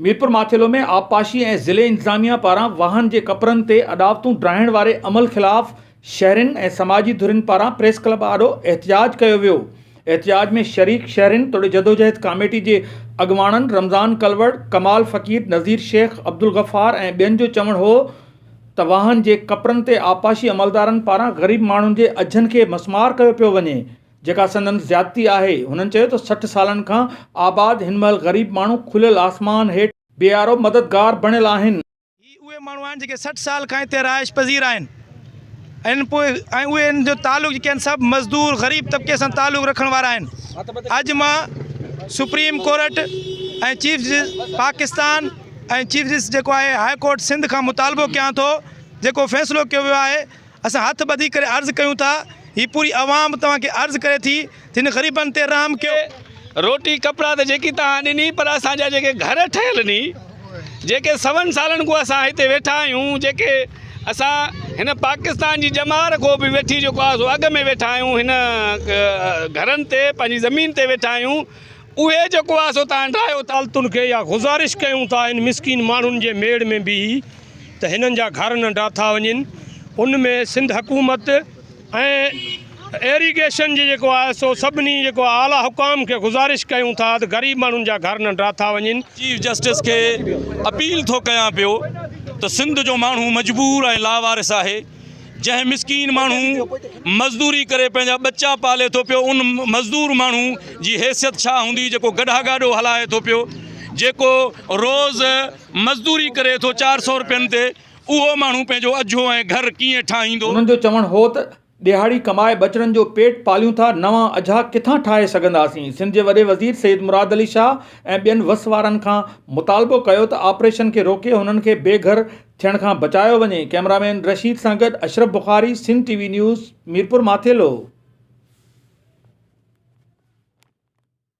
ميرپورماٿيلو ۾ آبپاشي ۽ ضلعي انتظاميا پاران واهن جي ڪپرن تي اڏاوتون ڊاهڻ واري عمل خلاف شهرين ۽ سماجي ڌرين پاران پريس ڪلب آڏو احتجاج ڪيو ويو احتجاج ۾ شريڪ شهرين توڙي جدوجهد ڪاميٽي جي اڳواڻن رمضان ڪلوڙ ڪمال فقير نظير شيخ عبدالغفار ۽ ٻين جو چوڻ هو ته واهن جي ڪپرن تي آبپاشي عملدارن پاران غريب ماڻهن جي اجهن کي مسمار ڪيو پيو وڃي جيڪا سندن زيادتي آهي. هنن چيو ته سٺ سالن کان آباد هن مهل غريب ماڻهو کليل آسمان هيٺ بيارو مددگار بڻيل آهن. هي اهي ماڻهو آهن جيڪي سٺ سال کان هتي رهائش پذير آهن ۽ پوء ۽ اهي هن جو تعلق جيڪي آهن سڀ مزدور غريب طبقي سان تعلق رکڻ وارا آهن اڄ مان supreme court ۽ chief justice Pakistan ۽ chief justice جيڪو آهي هاء ڪورٽ سنڌ کان مطالبو ڪيان ٿو جيڪو فيصلو ڪيو ويو آهي اسان هٿ ٻڌي ڪري عرض ڪيون ٿا، هي پوري عوام توهان کي عرض ڪري ٿي ته هن غريبن تي رحم ڪيو. روٽي ڪپڙا ته جيڪي توهان ڏني پر اسان جا جيڪي گهر ٺهيل ني جيڪي سون سالن کون اسان هتي ويٺا آهيون جيڪي اسان هن پاڪستان جي ڄمار کون به وٺي جيڪو آهي سو اڳ ۾ ويٺا آهيون هن گهرن تي پنهنجي زمين تي ويٺا آهيون اهي جيڪو آهي سو تان ڊاهيو ٿا. عدالتن کي اها گذارش ڪيون ٿا هن مسڪين ماڻهن جي ميڙ ۾ بيهي ته هنن جا گهر نه ڊاٿا وڃن ان ۾ سنڌ حڪومت ۽ ايريگيشن جي جيڪو آهي سو سڀني جيڪو آهي اعليٰ حڪام کي گذارش ڪيون ٿا ته غريب ماڻهن جا گهر نه ڊاٿا وڃن. چيف جسٽس کي اپيل ٿو ڪيان پيو ته سنڌ جو ماڻهو مجبور ۽ لاوارث آهي جنهن مسڪين ماڻهو مزدوري ڪري پنهنجا ٻچا پالي ٿو پيو ان مزدور ماڻهو جي حيثيت ڇا هوندي جيڪو گڏها گاڏو هلائي ٿو پيو جيڪو روز مزدوري ڪري ٿو چار سئو روپين تي اهو ماڻهو پنهنجو اجهو ۽ گهر ڪيئن ٺاهيندو. انهن جو چوڻ هو ته ڏهاڙي ڪمائي ٻچڙن جو پيٽ پاليون ٿا نوان اجها ڪٿان ٺاهي سگهنداسين سنڌ جي وڏي وزير سيد مراد علي شاهه ۽ ٻين وس وارن کان مطالبو ڪيو ته آپريشن کي روڪي هنن کي بي گهر ٿيڻ کان بچايو وڃي ڪيمرا مين رشيد سان گڏ Ashraf Bukhari Sindh T V news Mirpur Mathelo.